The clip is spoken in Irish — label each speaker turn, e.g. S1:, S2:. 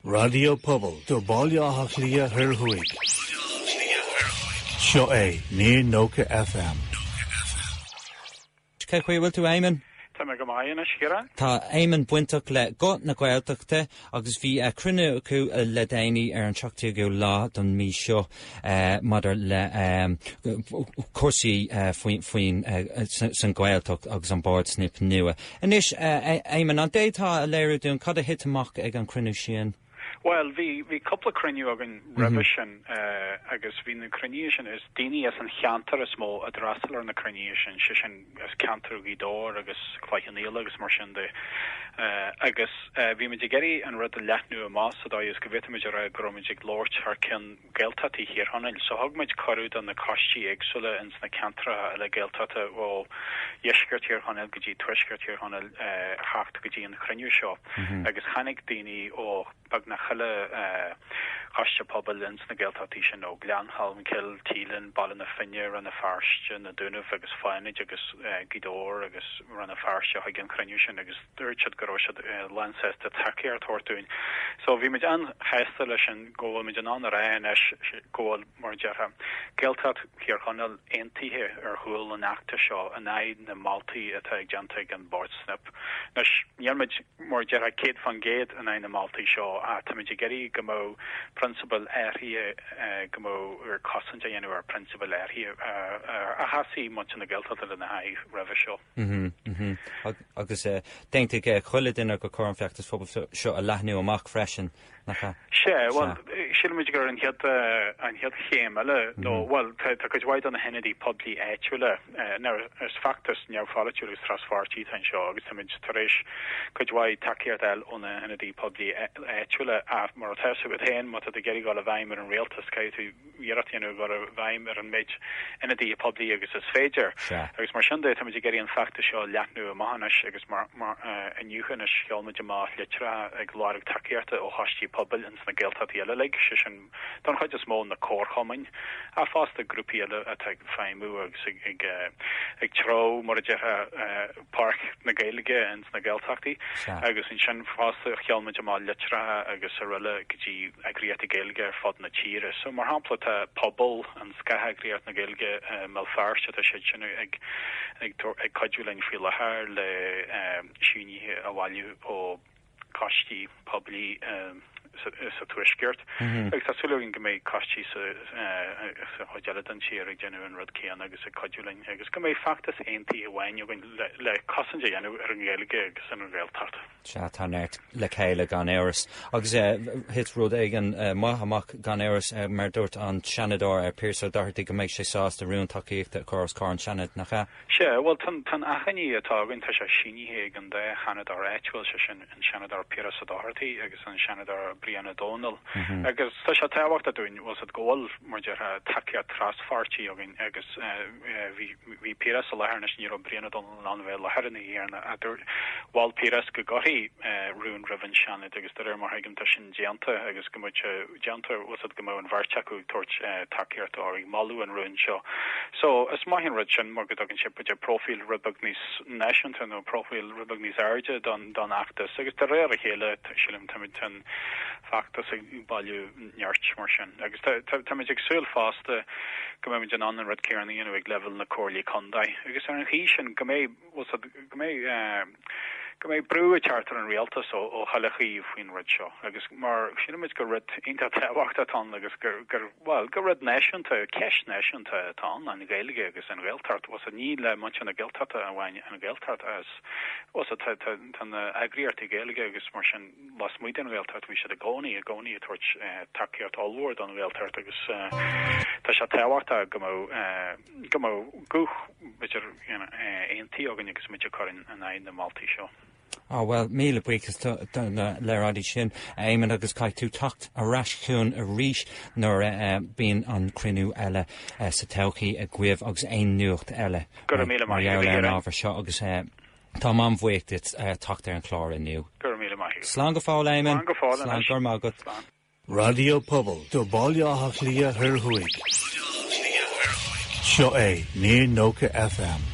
S1: Raidió Pobail do Bhaile Átha Cliath Thoir Thuaidh. Seo é Near 90 FM.
S2: Cén chaoi a bhfuil tú Éamonn? Tá mé go maith
S3: anois, Ciarán. Tá Éamonn
S2: bainteach le Guth na Gaeltachta agus bhí cruinniú acu le déanaí ar an 17ú lá don mí seo. maidir le cúrsaí faoin san Gaeltacht agus an bord snip nua. Anois, Éamon, an bhféadfá a léiriú dúinn cad a thit amach ag an cruinniú sin? Bhuel,
S3: bhí bhí cúpla cruinniú againn roimhe sin agus bhí na cruinnithe sin, is daoine as an cheantar is mó a d'fhreastal ar na cruinnithe sin, sé sin, as ceantar Ghaoth Dobhair agus Cloich Cheann Fhaola agus mar sin de agus bhí muid ag iarraidh an rud a leathnú amach sa dóigh is go bhféadfadh muid a rá go raibh muid ag labhairt thar cionn Gaeltachtaí Thír Chonaill. So thug muid cuireadh do na coistí éagsúla ins na ceantracha eile Gaeltachta ó dheisceart Thír Chonaill go dtí tuaisceart Thír Chonaill a theacht go dtí an chruinniú seo agus tháinig daoine ó beagnach chuile choiste pobail ins na Gaeltachtaí sin ó Ghleann Cholm Cill, Teílinn, Baile na Finne, Rann na Feirste, Na Dúnaibh agus Fánaid agus Gaoth Dobhair agus Rann na Feirste chuig an chruinniú sin agus dúirt siad go raibh siad lánsásta tacaíocht a thabhairt dúinn. So bhí muid an-shásta leis sin go bhfuil muid in ann a rá anois go bhfuil, mar a déarfá, Gaeltacht Thír Chonaill aontaithe ar chúl an fheachtais seo in aghaidh na moltaí atá déanta ag an Bord Snip. Anois, níl muid. Mar a déarfá, céad fán chéad in aghaidh na moltaí seo, ach táimid ag iarraidh go mbeadh prionsabail áirithe, go mbeadh cosaint á dhéanamh ar phrionsabail áirithe a sheasaigh muintir na Gaeltachta lena haghaidh roimhe
S2: seo. Agus d'aontaigh chuile dhuine gur cóir an feachtas phobail seo a leathnú amach freisin. nach ea? Sea,
S3: bhuel, sílimid gurb é an chéad, an chéad chéim eile, nó, bhuel, tá, tá cuid mhaith de na hionadaithe poiblí áitiúla, nár, is feachtas neamhpholaitiúil agus traspháirtí atá anseo agus táimid tar éis cuid mhaith tacaíocht a fháil ó na hionadaithe poiblí áitiúla ach, mar atá a fhios agat féin, má tá tú ag iarraidh gabháil i bhfeidhm ar an rialtas, caithfidh tú, iarracht a dhéanamh gabháil i bhfeidhm ar an méid ionadaithe poiblí agus is féidir, agus mar sin de táimid ag iarraidh an feachtas seo a leathnú amach anois agus inniu anois sheol muid amach litreacha ag lorg tacaíochta ó choistí pobail ins na Gaeltachtaí eile uilig, sé sin don chuid is mó na comharchumainn ach fosta grúpaí eile atá ag feidhmiú agus ag treabhadh, mar a déarfá. Páirc na Gaeilge ins na Gaeltachtaí agus ansin fosta sheol muid amach litreacha agus araile go dtí eagraíochtaí Gaeilge ar fud na tíre. So, mar shampla, tá Pobal, an scátheagraíocht na Gaeilge i mBéal Feirste, tá siad sin ag ag cuidiú linn faoi láthair le sínithe a bhailiú ó coistí poiblí sa Tuaisceart, agus tá súil againn go mbeidh coistí sa chuid eile den tír ag déanamh an rud céanna agus ag cuidiú linn, agus go mbeidh feachtas aontaithe amháin againn le cosaint a dhéanamh ar an nGaeilge agus ar an Ghaeltacht. Sea, tá
S2: neart le chéile gan amhras. Agus thit rud éigin maith amach gan amhras, mar dúirt an Seanadóir Pearse Doherty go mbeidh sé sásta rún tacaíochta a chur os comhair an tSeanaid, nach ea? Sea, bhuel, tá
S3: an achainí atá againn, tá sé sínithe ag an dá sheanadóir áitiúil, sé sin an Seanadóir Piaras Ó Dochartaigh agus an Seanadóir Brian Ó Domhnaill, agus tá sé tábhachtach dúinn, bhuel, go bhfuil, mar a déarfá, tacaíocht traspháirtí againn, agus bhí Piaras i láthair, anois ní raibh Brian Ó Domhnaill in ann a bheith i láthair aréir, ach dúirt, mhol Piaras go gcuirfí rún roimh an Seanad, agus de réir mar a thuigim, tá sin. déanta agus go mbeadh sé déanta, bhfuil a fhios agat, go mbeadh an bheirt acu ag tabhairt tacaíochta nó ag moladh an rúin seo. So is maith an rud sin mar go dtugann sé b'fhéidir próifíl rud beag níos náisiúnta nó próifíl rud beag níos airde don don fheachtas agus de réir a chéile sílim táimid, tá an feachtas ag bailiú nirt mar sin agus tá tá táimid ag súil fosta go mbeimid in ann an rud céanna a dhéanamh ag leibhéal na gcomhairlí contae agus ar an chaoi sin go mbeidh Bhfuil a fhios agat, go mbeidh brú ag teacht ar an rialtas ó achan taobh faoin rud seo agus mar síleann muid gur rud iontach tábhachtach atá ann agus gur, bhuel, gur rud náisiúnta, ceist náisiúnta atá ann, an Ghaeilge agus an Ghaeltacht. Bhfuil a fhios agat, ní le muintir na Gaeltachta amháin an Ghaeltacht agus, bhfuil a fhios agat, tá na heagraíochtaí Gaeilge agus mar sin lasmuigh den Ghaeltacht, bhí siad i gcónaí, i gcónaí ag tabhairt tacaíocht ollmhór don Ghaeltacht agus tá sé tábhachtach go mbeadh, Go mbeadh guth aontaithe againn agus muid ag cur in éadan na moltaí seo. Á bhuel,
S2: míle buíochas duit as labhairt ar an raidió sin, a Éamon, agus caithfidh tú teacht ar ais chugainn arís nuair a bíonn an cruinniú eile sa todhchaí agaibh agus an nuacht eile mar
S3: gheall ar an ábhar seo
S2: agus táim an-bhuíoch duit teacht ar an chlár inniu. Slán
S3: go fóill, Éamon. Slán
S2: go fóill. Go raibh maith agat. Raidió
S1: Pobail do Bhaile Átha Cliath Thoir Thuaidh. Seo é Near 90 FM.